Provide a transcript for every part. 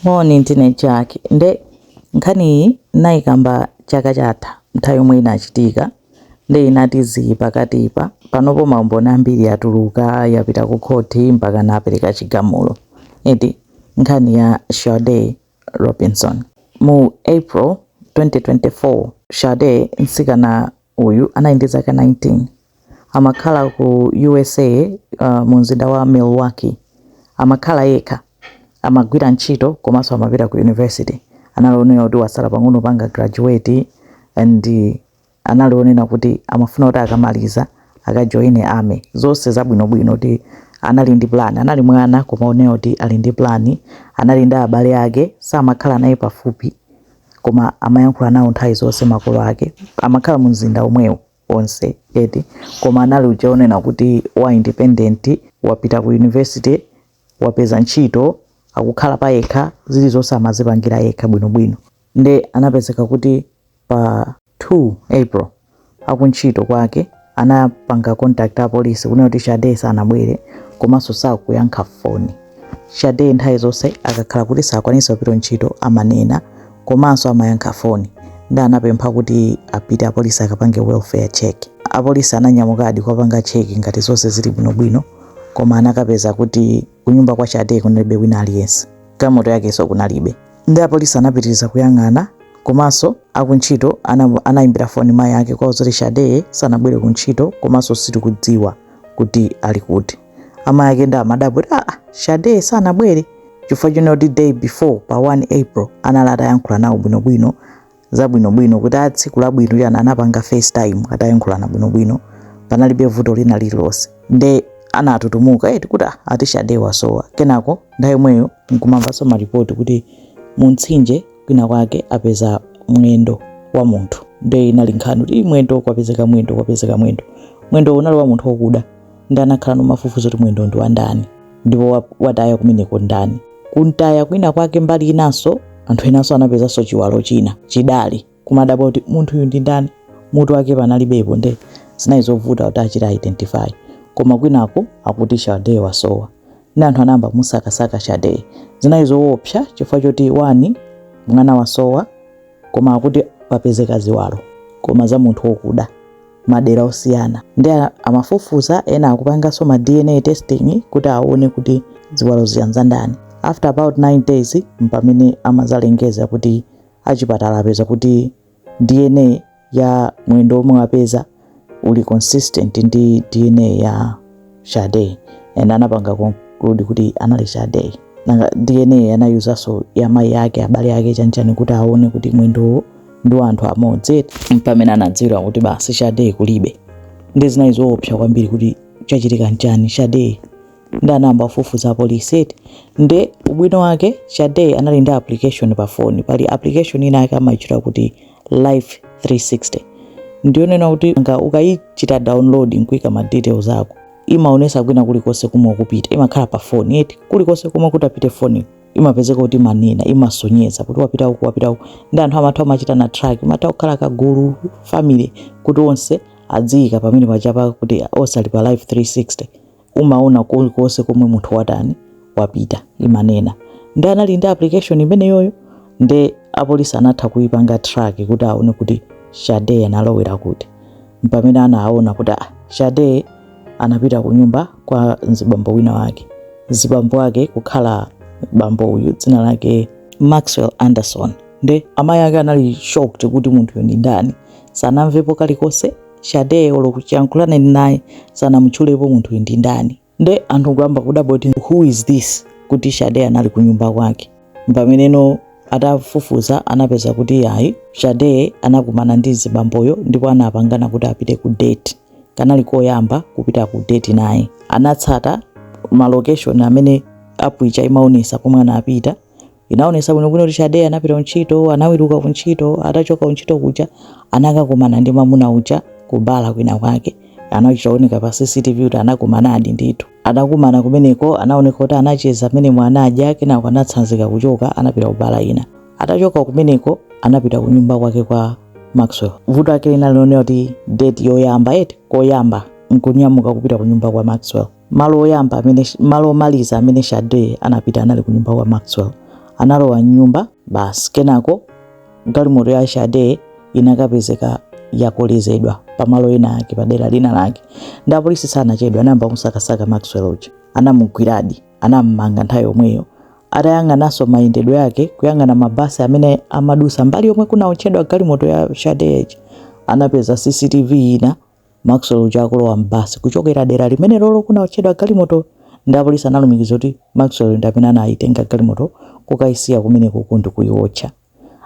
Moni, ndine Jack. Nde nkhani iyi nayikamba chaka chatha nthawi yomwe inachitika nde inati zii pakatipa. Panopo maumboni ambiri atuluka, yapita ku khoti mpakana apereka chigamulo eti. Nkhani ya Sade Robinson. Mu April 2024, Sade, mtsikana uyu anali ndi zaka 19. amakhala ku usa uh, mu mzinda wa milwaukee amakhala yekha amagwira ntchito komanso amapita ku university anali onena kuti wasala pang'ono panga graduate and uh, anali onena kuti amafuna kuti akamaliza akajoine army zonse zabwinobwino kuti anali ndi plan anali mwana koma onena kuti ali ndi plan anali ndi abale ake samakhala naye pafupi koma amayankhula nawo nthawi zonse makolo ake amakhala mu mzinda omwewo onse eti koma anali uja onena kuti wa independent wapita ku university wapeza ntchito akukhala pa yekha zilizonse amazipangira yekha bwinobwino nde anapezeka kuti pa 2 april akuntchito kwake anapanga contact apolisi kunena kuti sade sanabwere komanso sakuyankha foni Sade nthawi zonse akakhala kuti sakwanisa kupita ntchito amanena komanso amayankha foni nde anapempha kuti apite apolisi akapange welfare check. Apolisi ananyamukadi kukapanga check ngati zonse zili bwinobwino koma anakapeza kuti kunyumba kwa Sade kunalibe wina aliyense. Galimoto yakenso kunalibe. Nde apolisi anapitiriza kuyang'ana komanso akuntchito ana anayimbira foni mayi ake kuwauza kuti Sade sanabwere kuntchito komanso sitikudziwa kuti ali kuti. amayi ake nde amadabwa kuti aa sade sanabwere chifukwa chonena kuti day before pa 1 april anali atayankhula nawo bwinobwino zabwinobwino kuti a tsiku labwino kuti ana anapanga facetime atayankhulana bwinobwino panalibe vuto lina lililonse nde anatutumuka eti kuti "Ah, ati sade wasowa kenako nthawi yomweyo nkumamvanso malipoti kuti mu mtsinje kwina kwake apeza mwendo wa munthu nde inali nkhani kuti "Ih, mwendo kwapezeka mwendo kwapezeka mwendo mwendo unali wa munthu wokuda nde anakhala nkumafufuza kuti mwendo ndi wandani ndipo wataya kumeneko ndani kuntaya kwina kwake mbali inanso anthu enanso anapezanso chiwalo china chidali nkumadabwa kuti munthu uyu ndi ndani mutu wake panalibepo nde zinali zovuta kuti achite identify koma kwinako akuti sade wasowa nde anthu anayamba musakasaka sade zinali zoopsa chifukwa choti one mwana wasowa koma akuti papezeka ziwalo koma za munthu wokuda madera osiyana nde amafufuza ena akupanganso ma dna testing kuti aone kuti ziwalozi ndi zandani after about 9 days mpamene amazalengeza kuti achipatala apeza kuti dna ya mwendo omwe wapeza uli consistent ndi dna ya Sade and anapanga conclude kuti anali Sade nanga DNA anayuzanso ya mai yake abale yake chanchani kuti aone kuti mwendo ndi anthu amodzi mpamene anadziwira kuti basi Sade kulibe nde zinali zoopsa kwambiri kuti chachitika nchani Sade nde anayamba kufufuza apolisi nde ubwino wake Sade anali ndi application pa phone pali application ina yake amayitchula kuti life 360 ndiyonena kuti nga ukayichita download nkuika ma details ako imaonesa kwina kulikonse komwe ukupita imakhala pa foni eti kulikonse komwe kutapite foni imapezeka kuti imanena imasonyeza kuti wapita uku wapita uku ndi anthu amatha kumachitana track umatha kukhala kagulu family kuti onse adziyika pamenepajapa kuti onse ali pa life 360 umaona kulikonse komwe munthu watani wapita imanena ndi anali ndi application imeneyoyo nde apolisi anatha kuipanga track kuti aone kuti Sade analowera kuti mpamene anaona kuti ah, Sade anapita ku nyumba kwa mzibambo wina wake mzibambo wake kukhala bambo uyu dzina lake maxwell anderson nde amayi ake anali shocked kuti munthuyu ndi ndani sanamvepo kalikonse Sade olo kuyankhulana ine naye sanamutchulepo munthuyu ndi ndani nde anthu nkuyamba kudabwa kuti who is this kuti Sade anali kunyumba kwake mpameneno atafufuza anapeza kuti yayi Sade anakumana ndi mzibamboyo ndipo anapangana kuti apite ku date kanali koyamba kupita ku date naye anatsata ma location amene app ija imaonesa pomwe anapita Inaonesa bwino bwino kuti Sade anapita kuntchito, anaweruka kuntchito, atachoka kuntchito kuja anakakumana ndi mwamuna uja ku bala kwina kwake. Anachita kuoneka pa CCTV kuti anakumanadi ndithu. Atakumana kumeneko anaoneka kuti anacheza mmenemo anadya kenako anatsanzika kuchoka anapita ku bala ina. Atachoka kumeneko anapita ku nyumba kwake kwa Maxwell. Vuto lake linali lonena kuti date yoyamba eti koyamba nkunyamuka kupita ku nyumba kwa Maxwell. malo oyamba amene malo omaliza amene Sade anapita anali ku nyumba kwa Maxwell. Analowa m'nyumba basi, kenako galimoto ya Sade inakapezeka yakolezedwa pamalo ena ake pa dera lina lake, nde apolisi sanachedwa, anayamba kusakasaka Maxwell uja, anamugwiradi, anammanga nthawi yomweyo atayang'ananso mayendedwe yake kuyang'ana mabasi amene amadusa mbali yomwe kunaotchedwa galimoto ya Sade anapeza CCTV ina Maxwell uja akulowa m'basi kuchokera dera limenelolo kunaotchedwa galimoto nde apolisi analumikiza kuti Maxwell ndi amene anayitenga galimoto kukayisiya kumenekuku ndi kuyiotcha.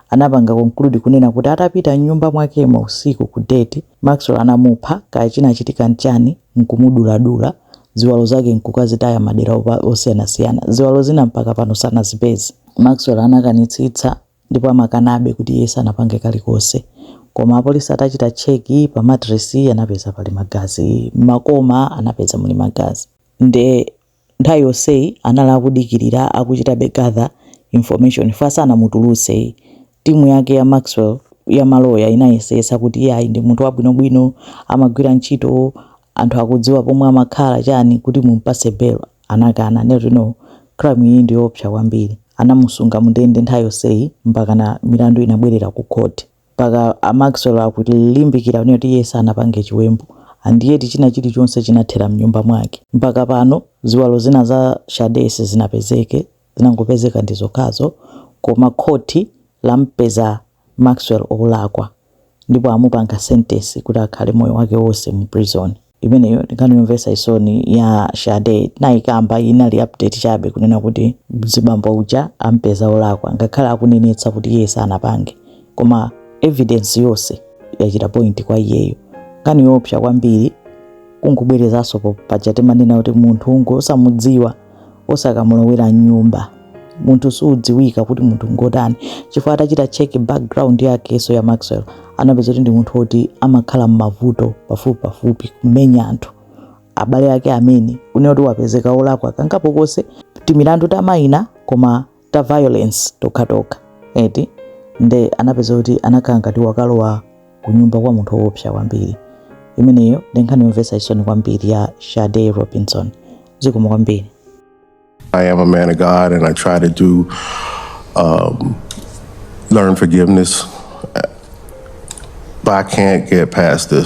Anapanga conclude kunena kuti atapita m'nyumba mwakemo usiku ku date, Maxwell anamupha kaya chinachitika n'chani n'kumuduladula, ziwalo zake n'kukazitaya madera osiyanasiyana. Ziwalo zina mpaka pano sanazipeze. Maxwell anakanitsitsa ndipo amakanabe kuti iye sanapange kalikonse koma apolisi atachita check pa mattress anapeza pali magazi mmakoma anapeza muli magazi nde nthawi yonseyi anali akudikirira akuchitabe gather information chifukwa sanamutulutsenso team yake ya Maxwell ya maloya inayesetsa kuti iyayi ndi munthu wabwinobwino amagwira ntchito anthu akudziwa pomwe amakhala chani kuti mumpase bail anakana nde kuti no crime iyi ndiyoopsa kwambiri anamusunga mundende nthawi yonseyi mpakana milandu inabwerera ku court mpaka Maxwell akulimbikira kunena kuti iye sanapange chiwembu and yet china chilichonse chinathera mnyumba mwake mpaka pano ziwalo zina za Shade sizinapezeke zinangopezeka ndizokhazo koma court lampeza Maxwell olakwa ndipo amupanga sentence kuti akhale moyo wake wose mu prison. Imeneyo ndi nkhani yomvesa chisoni ya Shade tinayikamba iyi inali update chabe kunena kuti mzibambo uja ampeza olakwa ngakhale akunenetsa kuti iye sanapange koma evidence yose yachita point kwa iyeyo nkhani yoopsa kwambiri kungobwerezaso paja timanena kuti munthu ungosamudziwa osakamulowera mnyumba munthu sudziwika kuti munthu ngotani chifukwa atachita check background yakeso ya Maxwell anapeza kuti ndi munthu woti amakhala m'mavuto pafupipafupi kumenya anthu abale ake amene kunena kuti wapezeka olakwa kangapo konse timilandu tamayina koma ta violence tokhatokha eti nde anapeza kuti anakhala ngati wakalowa kunyumba kwa munthu woopsa kwambiri imeneyo ndi nkhani yomvetsa chisoni kwambiri ya Shade Robinson zikomo kwambiri I am a man of God and I try to do, um, learn forgiveness. But I can't get past this.